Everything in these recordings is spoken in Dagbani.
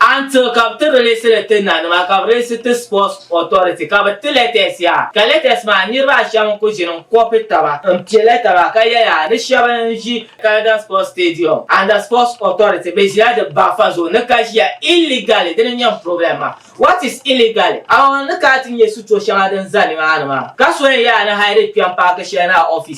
Until ka bɛ ti release li ti na nima ka bɛ reesi ti sports authority ka bɛ ti letters yaa ka letters maa niriba a shɛm n ku ʒini n copy taba n peli taba ka yɛli a ni shɛb n ʒi Caledon sports stadium under sports authority bɛ ʒila di baɣifa zuɣu ni ka ʒiya illegally dini n nyɛ n problem maa what is illegally a ni ka ti nyɛ sitro shɛŋa din za ni maa ni maa ka so yɛn yaa ni hide kpɛm paaki shɛli ni a office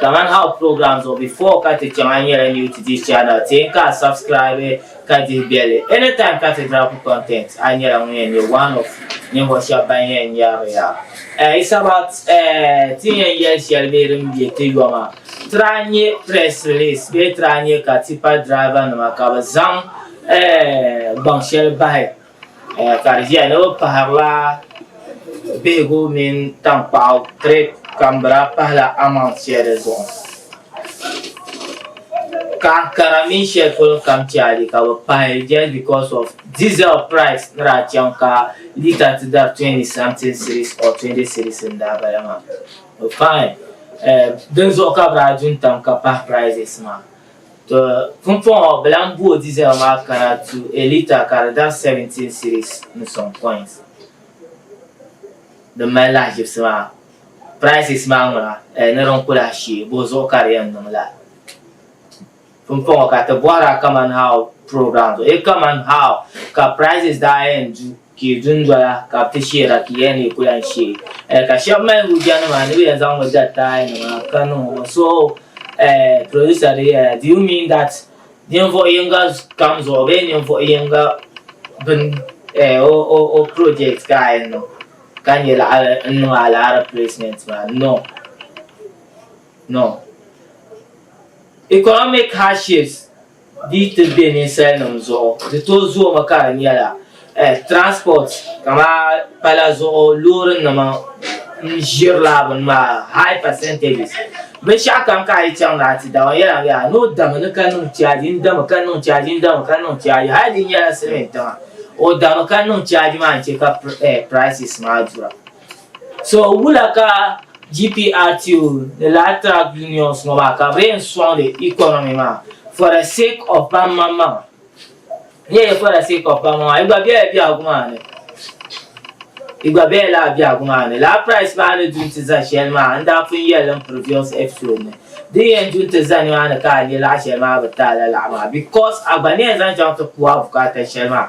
Kaman House program zuɣu before ka ti chaŋ a nyɛla new to this channel ti n ka a subscribe ka dihi bɛli anytime ka ti drop content a nyɛla ŋun yɛn nyɛ one of ninvuɣu shɛba ban yɛn yaari ya it's about ti yɛn yɛli shɛli bee din bɛ ti yoma tiri a nyɛ press release bee tiri a nyɛ ka tipa driver nima ka bi zaŋ gbaŋ shɛli bahi Eh, ka di ʒiya ni bɛ pahirila bihigu mini taŋkpaɣu kirɛt kambira pahila amount shɛli zuɣu ka ankara mini shɛli polo kam chaali ka bɛ pahi just because of diesel price ni daa chaŋ ka lita ti dari 20 something series or 20 series n daa bala maa fine eh, dinzuɣu ka bɛ daa du n-tam ka pahi prices maa To pumpɔŋɔ bɛ lan booi Diesel maa kana tu a lita ka di dari 17 cedis ni sɔŋ coins. Din mali lahiʒibisi maa, prices maa ŋuna, eh, ni din ku lahi shee, buɣi zuɣu ka di yɛn niŋ la. Pumpɔŋɔ ka ti bɔhira kaman how programs, eh, kaman how ka prices daa yɛn du. Ki dundoya ka bɛ ti sheera ki yɛli ni yi ku lan she. Ka shɛba mali hujjanima ni bɛ yɛn zaŋ mi dari taayinima ka niŋ o ŋɔ. So producer dii yɛla, Do you mean that ninvuɣ yiŋga kam zuɣu bee ninvuɣ yiŋga bini o project ka a yɛn niŋ ka nya laɣiri n-niŋ a laɣiri placement maa? No. No. Economic hardships. di yi ti be ninsalinim zuɣu di tooi zoomi ka di nyɛla transport kamani pala zuɣu loorinima n-ʒirila bini maa high percentages binshɛɣu kam ka a yi chaŋ ni a ti da o yɛli a mi yaa ni o dami ni ka niŋ charge n-dami ka niŋ charge n-dami ka niŋ charge hali di nyɛla silimintiŋa o dami ka niŋ charge maa n-che ka prices maa dɔya So wula ka GPRTO ni Latrag Unions ŋɔ maa ka bɛ yɛn sɔŋdi economy maa for the sake of banmaŋ maŋa? N yɛli for the sake of banmaŋ maŋa, yi gba bela biɛhigu maa ni. Yi gba bela lala biɛhigu maa ni. Lala price maa ni du nti za shɛli maa, n daa pun yɛli li n previous episode ni. Di ni yɛn du nti za nimaani ka a nya laɣ shɛli maa bi ti a lalaɣu maa because a gba ni yɛn zaŋ chaŋ ti ku a bukaata shɛli maa.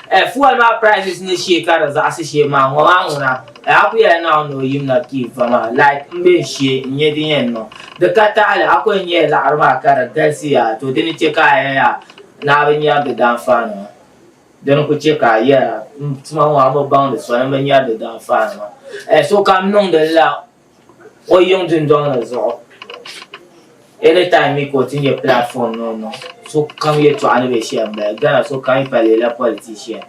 Ɛɛ fuel maa prices ni shee ka di zaɣisi shee maa ŋɔ maa ŋuna ɛɛ a ku yɛla Naawuni ni o yim na ti yi va maa like m be n shee n nya din yɛn niŋ di ka taɣili a ku yɛn nyɛla laɣiri maa ka di galisiya to di ni chɛ ka a yɛya ni a bi nyari di daanfaanima di ni ku chɛ ka a yɛra m tuma ŋɔ a mi baŋdi soli m bi nyari di daanfaanima ɛɛ sokam niŋdi li la O yiŋ dundɔŋ ni zuɣu anytime mi ka o ti nyɛ platform ni o niŋ sokam yɛltɔɣa ni be shɛli m-bala Ghana sokam yi pa leela politician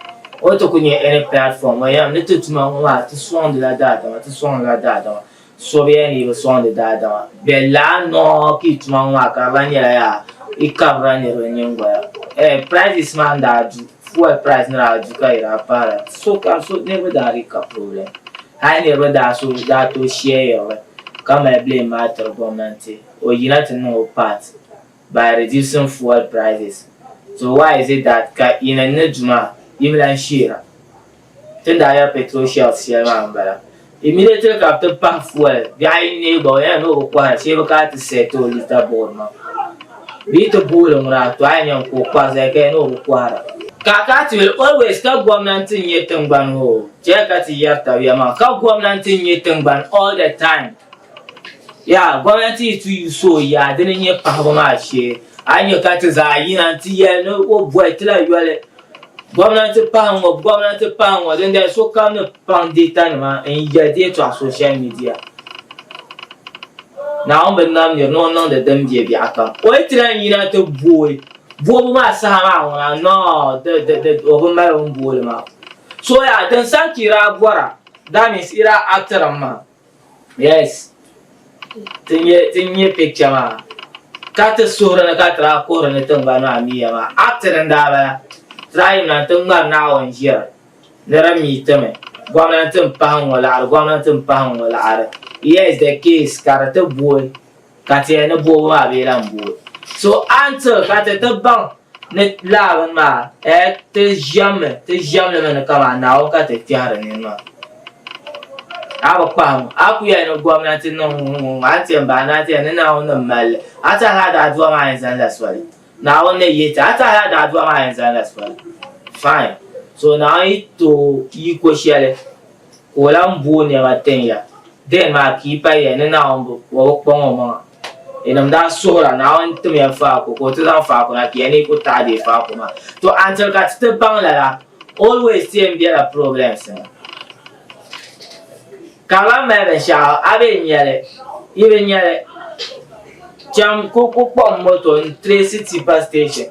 o ni ti kuli nyɛ any platform o yɛn mi ti tuma ŋɔ maa ti sɔŋdila daadama ti sɔŋdila daadama so be yɛn ni yi bi sɔŋdi daadama bɛ laa nɔɔ ka yi tuma ŋɔ maa ka di lan nyɛla yaa yi kabirila niriba nyiŋgoya eh prices maa n daa du fuel price ni daa du ka yi daa pahira sokam so niriba daa dii ka problem. Hali niriba daa so daa tooi share yiɣiri ka mali blame maa tiri gomnanti o yina ti niŋ o part by reducing fuel prices so why is it that ka yini n ni du maa yimi lan sheera tin daa yɛri petrol shells shɛli maa n bala immediately ka bi ti pahi fuel biɛɣu ayi n neei gba o yɛli ni o bi kohira shee bi kana ti sell ti o litre board maa. Bɛ yi ti booli ŋuna a tɔɣa nya n-ku o kpari zali ka ya ni o bi kɔhira. Ka ka ti will always ka gomnanti n-nyɛ tingbani hoo chɛya ka ti yɛri tabiya maa ka gomnanti n-nyɛ tingbani all the time yaa gomnanti yi ti yuus o yaa dini n-nyɛ pahibu maa shee a yi nya ka ti zaa yina n-ti yɛli ni o bɔhi ti la yoli Gomnanti pahi ŋɔ Gomnanti pahi ŋɔ dindali sokam ni paŋ deetanima n-yɛli di yɛtɔɣa soshal midia. Naawuni bi nam nir ni o niŋdi din be biɛɣukam. O yi ti lan yina ti booi boobu maa saha maa ŋuna, nɔɔ, di, di, di, o bi mali o ni booli maa. So yaa, din saha ka yi daa bɔra, that means yi daa actiri mi maa. Yes ti nyɛ ti nyɛ picture maa ka ti suhuri ni ka ti daa kuhiri ni tingbani maa miya maa acting n daa bala ti daa yim na ti ŋmari Naawuni ʒiri ni di mi timi gomnanti m pahi ŋ ŋɔ laɣiri gomnanti m pahi ŋ ŋɔ laɣiri yes the case ka di ti booi Ka ti yɛli ni bɔbu maa bee la m-boi. So until ka ti ti baŋ ni laa bini maa eh ti ʒiɛmmi ti ʒiɛmli mi ni kaman Naawuni ka ti kpɛhiri nini maa. A bi kpahim a ku yɛli ni gomnati niŋ ŋ-ŋ-ŋ a ni ti yɛn bahi ni a ti yɛli ni Naawuni ni mali li. A ti hali a daa dua maa yɛn zaŋla soli. Naawuni ni yihi ti a ti hali a daa dua maa yɛn zaŋla soli. Fine. So Naawuni yi ti o yiko shɛli. ka o lan bo o nɛma tin ya. Dɛn maa ka yi pa yiya ni Naawuni bi bɔbi kpaŋ omaŋa. Yinim daa suhira, Naawuni timya faako ka o ti zaŋ faako na piya ni yi ku taɣi deei faako maa. To until ka ti ti baŋ lala, always ti yɛn bela problems ni. Ka a lan mali binshɛɣu, a be nya li? Yi bi nya li. Cham ku kpuɣim moto n-trace tipa station.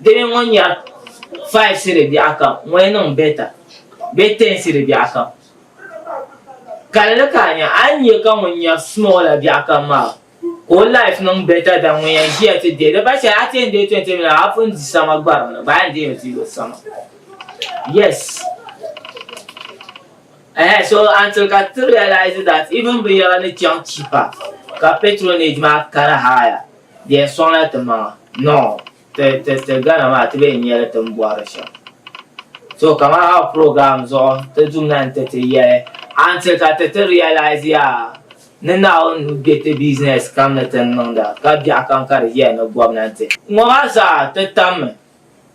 Dini ŋɔ nyɛla fayi siri biɛɣu kam ŋɔli niŋ bɛta bee tɛn siri biɛɣu kam. Kalli ka a nya, a ni nya ka ŋun nyari small la biɛɣu kam maa ka o life niŋ bɛta dan ŋun yɛn ʒiya ti deei. Di ba shɛli a ti yɛn deei twenty million la a pun di sama gbarim ni baa yɛn deei mi ti yo sama. Yes! Ehe so until ka ti realize that even binyɛra ni chaŋ cheaper ka patronage maa kana higher. Di yɛn sɔŋla ti maŋa, nɔɔ, ti, ti, ti Ghana maa ti bi yɛn nyɛli ti ni bɔhiri shɛm. So kaman a program zuɣu ti dum na n-ti ti yɛli until ka ti ti realize ya ni Naawuni nuu be ti business kam ni ti ni niŋda ka biɛɣu kam ka di ʒiya ni gɔbnanti. Ŋɔ maa zaa ti tammi,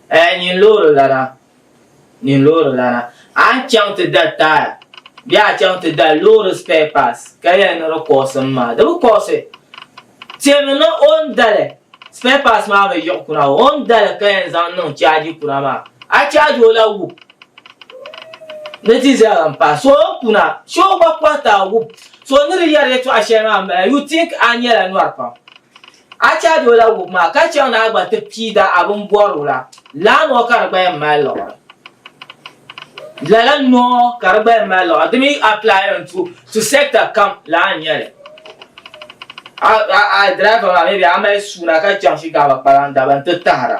ɛɛh nyini loori lana. ni loori lana. A ni chaŋ ti da taaya bee a chaŋ ti da loori spare parts ka yɛli ni di kɔɣisi m maa, di bi kɔɣisi. Tɛmi ni o ni da li, spare parts maa bi yiɣi kuna, o ni da li ka yɛn zaŋ niŋ chaaji kuna maa, a chaaji o la wup ni diesel m-pahi. So o kuna, shee o gba kɔhiti a wup. So ni di yɛri yɛtɔɣ shɛli maa m-bala, you think a nyɛla nyɔri pam. A chahi o la wubu maa ka chaŋ ni a gba ti piigi a bini bɔri o la, lala nɔɔ ka di gba yɛn mali liɣiri. Lala nɔɔ ka di gba yɛn mali liɣiri. Di mi applying to to sector kam laa n-nyɛ li. A a a driver maa maybe a mali suuna ka chaŋ Shigaba kpalaŋ daba n-ti tahira.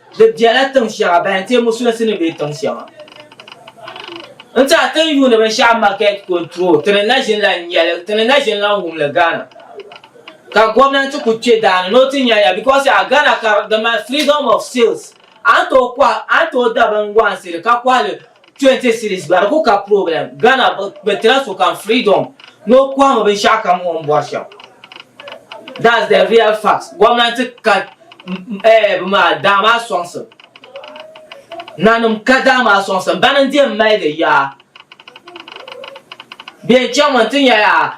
Di biɛla tiŋ shɛŋa ban teei musulinsi ni be tiŋ shɛŋa n-tɛha tin yuuni binshɛɣu market control ti ni na ʒini la n-nyɛli ti ni na ʒini la n-wum li Ghana ka gomnanti kuli kpe daa ni ni o ti nya ya because yaha Ghana ka di mali freedom of sales a ni tooi kɔhi a ni tooi da binwaɣinsi li ka kɔhi li 20 series gba di ku ka problem Ghana bi tira sokam freedom ni o kɔhimi binshɛɣu kam o ni bɔri shɛm that's the real fact gomnanti ka eh, bi maa daa maa sɔŋsim nanim ka daa maa sɔŋsim bani n-di m mali di yaa bɛn chaŋ mi n ti nya yaa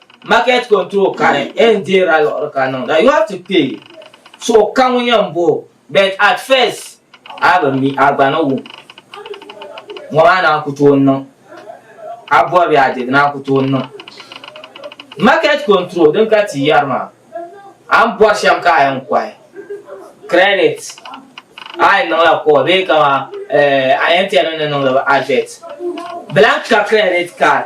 Market control kani en deera luɣiri ka niŋda. You have to pay. So ka ŋun yɛn bo but at first a bi mi a gba ni wum. Ŋɔ maa naa ku toon niŋ. A bɔbi ya di naa ku toon niŋ. Market control din ka ti yɛri maa a ni bɔri shɛm ka a yɛn kɔhi credit a yɛn niŋla call bee kama eh, a yɛn tɛni ni niŋdi ba advert blank ka credit card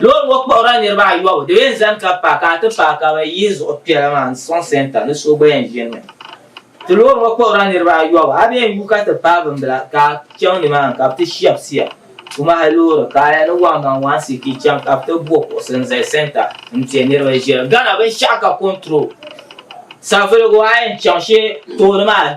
Loori ŋɔ kpuɣirila niriba ayɔbu di yɛn zani ka paaki a ti paaki a mi yihi zuɣu piɛla maa n sɔŋ sɛnta ni so gba yɛn ʒini mi ti loori ŋɔ kpuɣirila niriba ayɔbu a yɛn yu ka ti paai bin bila ka a chaŋ ni maa ni ka bi ti shɛbisiya tumahi loori ka a yɛli wan man wan siti chaŋ ka bi ti bo kuɣusi n zali sɛnta n tɛ niriba ʒiya gana binshɛɣu ka kɔnturol savuligu a yɛn chaŋ shee tooni maa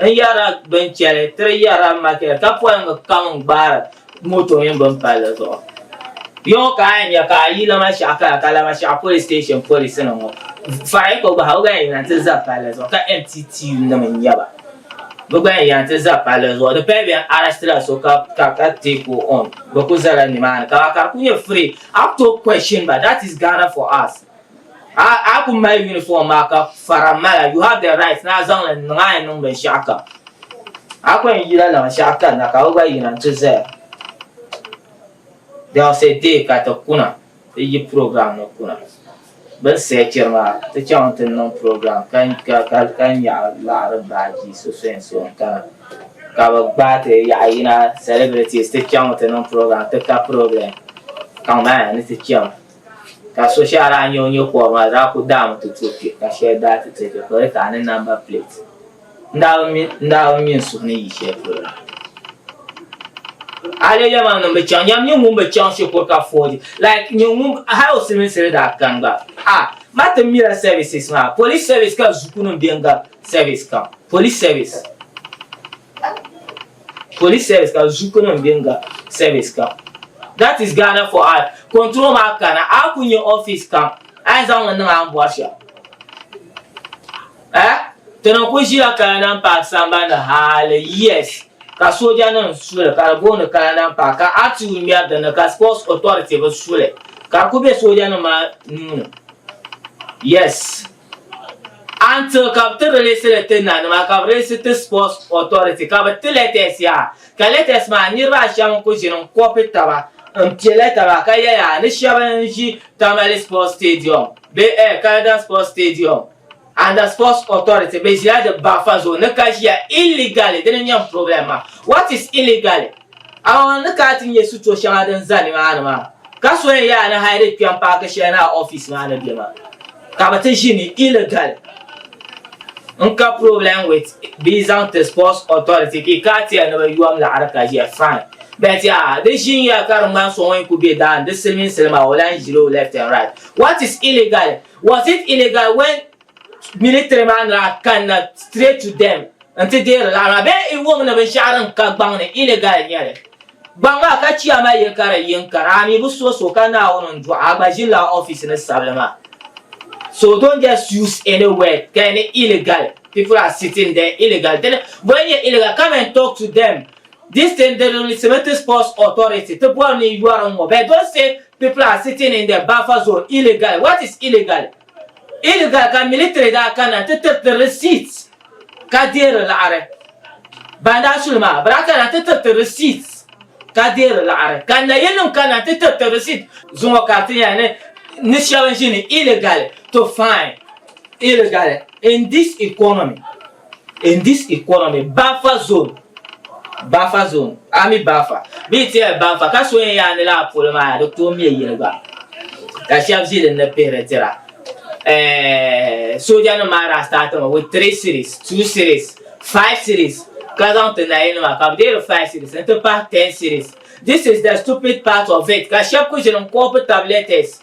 N yɛra bin chɛli tiri yɛra makɛt ka polingi kam n gbaari moto mini bin palli zuɣu yɔŋɔ ka a nya ka a yi lama shɛɣu kaya ka lama shɛɣu polis station polis nim ŋɔ fariya ka o gbahi o gba yɛn ti za palli zuɣu ka MTT nim n nyɛba bi gba yɛn ti za palli zuɣu di pali bɛn arɛstila so ka ka ka take o on bi ku zala nimaani ka ka di ku nyɛ free a ku tooi question ba that is Ghana for us. A ku mali uniform maa ka fara mala you have the right na zaŋ li niŋ a niŋ binshaɣu kam a ku yɛn yila niŋ shɛɣu kanna ka o gba yina n ti zaya there was a day ka ti kuna ti yi program ni kuna bin sɛchiri maa ti chaŋ ti niŋ program ka ka nyaɣi laɣiri baaji so so n so n kana ka bi gbaai ti yaɣa yina celebrities ti chaŋ ti niŋ program ti ka problem kaŋ maa ni ti chaŋ. Ka so shɛli a daa nya o nya kɔbu maa, di daa kul daami ti tooi kpe, ka shɛli daa ti tooi kpe, ka o yɛli ka a ni namba pileeti. N daa bi mi, n daa bi mi n suhu ni yi shɛli polo la. A leei yɛlimaŋli ŋun bi chaŋ, yɛm nyin ŋun bi chaŋ shikuru ka fooji, like nyin ŋun, hali o siliminsili daa kani gba, a, ma ti mila services maa, police service ka zukunim beni gabi service kam, police service. Police service ka zuku nim bɛ nga service kam that is Ghana for I control maa kana a ku nyɛ office kam a yɛn zaŋ li niŋ a ni bɔri shɛm eh tana ku ʒila Kalanan Park sambani hali years ka sooja nim su li ka di booni Kalanan Park ka RTU ŋmɛri dinni ka sports authority bi su li ka di ku bɛ sooja nim maa nuuni yes. Until ka bɛ ti release li ti na nima ka bɛ reesi ti sports authority ka bɛ ti letters yaa ka letters maa niriba a shɛm n ku ʒini n copy taba n piɛla taba ka ya yaa ni shɛb n ʒi Tamale sports stadium bee eh Kayodam sports stadium and the sports authority bɛ ʒila di baŋfa zuɣu ni ka ʒiya illegally dini n nyɛm problem maa what is illegally? Amaa n ni kana ti nya sitɔ shɛŋa din za nimaani maa, ka so yɛn yaa ni hali di kpɛm paaki shɛli ni a ɔfis maa ni be maa, ka bɛ ti ʒi ni illegal n ka problem with bee zaŋ ti sports authority ki ka a tiɛhi ni bɛ yuwam laɣiri ka ʒiya fine but yaa di ʒinya ka di ŋmani so ŋun kuli be daani di siliminsili maa o lahi ʒiri o left and right what is illegal was it illegal when Militiri maa ni daa kanna straight to them nti deeri laɣiri maa bee i wum ni binshɛɣu din ka gbaŋ ni illegal n-nyɛ li. Gbaŋ maa ka chiya ma yi ka di yin kara a mi bi so so ka Naawuni n-dɔɣi a gba ʒini la office ni sabili maa. So don't just use any word ka yi ni illegal people are sitting there illegal dini boli n-nyɛ illegal come and talk to them this thing di risimi ti sports authority ti boli ni yɔri n-ŋɔ but don't say people are sitting in the buffer zone illegal what is illegal. Iliga ka militiri daa kana ti tiri ti risiit ka deeri laɣiri. Ban daa su li maa, bɛ daa kana ti tiri ti risiit ka deeri laɣiri. Ka nayinim kana ti tiri ti risiit. Zuŋɔ ka ti nya ni shɛba ʒini illegally to find illegally in this economy. In this economy, Bafa zone, Bafa zone, ami Bafa, bi ti ya Bafa, ka so yɛn yaa ni laa polo maa di tooi mɛ yili gba, ka shɛba zi din ni pihiri tira. Eh, soja nim maa daa start mi with three series, two series, five series, ka zaŋ ti nayi nima ka bi deeri five series n ti pahi ten series. This is the stupid part of it, ka shɛba ku ʒini n koopi tabi letters.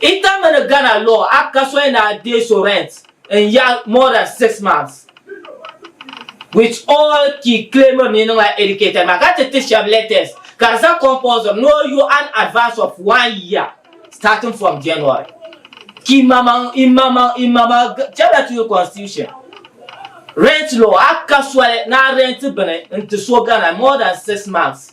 Inter mini Ghana law act ka soya ni a deei so rent n yaɣi more than six months with all ki claim mi niŋla educated maa ka ti ti shɛb letters ka di za compulsory ni o yo an advance of one year starting from January ki mamaŋ i mamaŋ i mamaŋ chɛbla ti yo constitution rent law act ka soli ni a rent bini n ti so Ghana more than six months.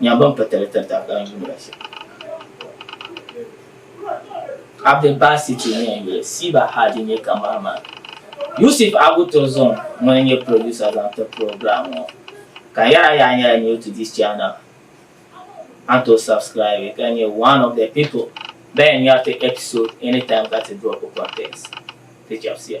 Nya ban pa tali tiri tabi daa yuuni la shɛm. Abdul Basit ŋun yɛn nyɛ Siba Hadi nyɛ cameraman. Yusuf Abu Turzum ŋun n nyɛ producer zaŋ ti program ŋɔ. Ka yɛra yaa nyɛla new to this channel a ni tooi subscribe ka nyɛ one of the people ban yɛn ŋmɛri ti episode anytime ka ti drop content. Ti chɛbisiya.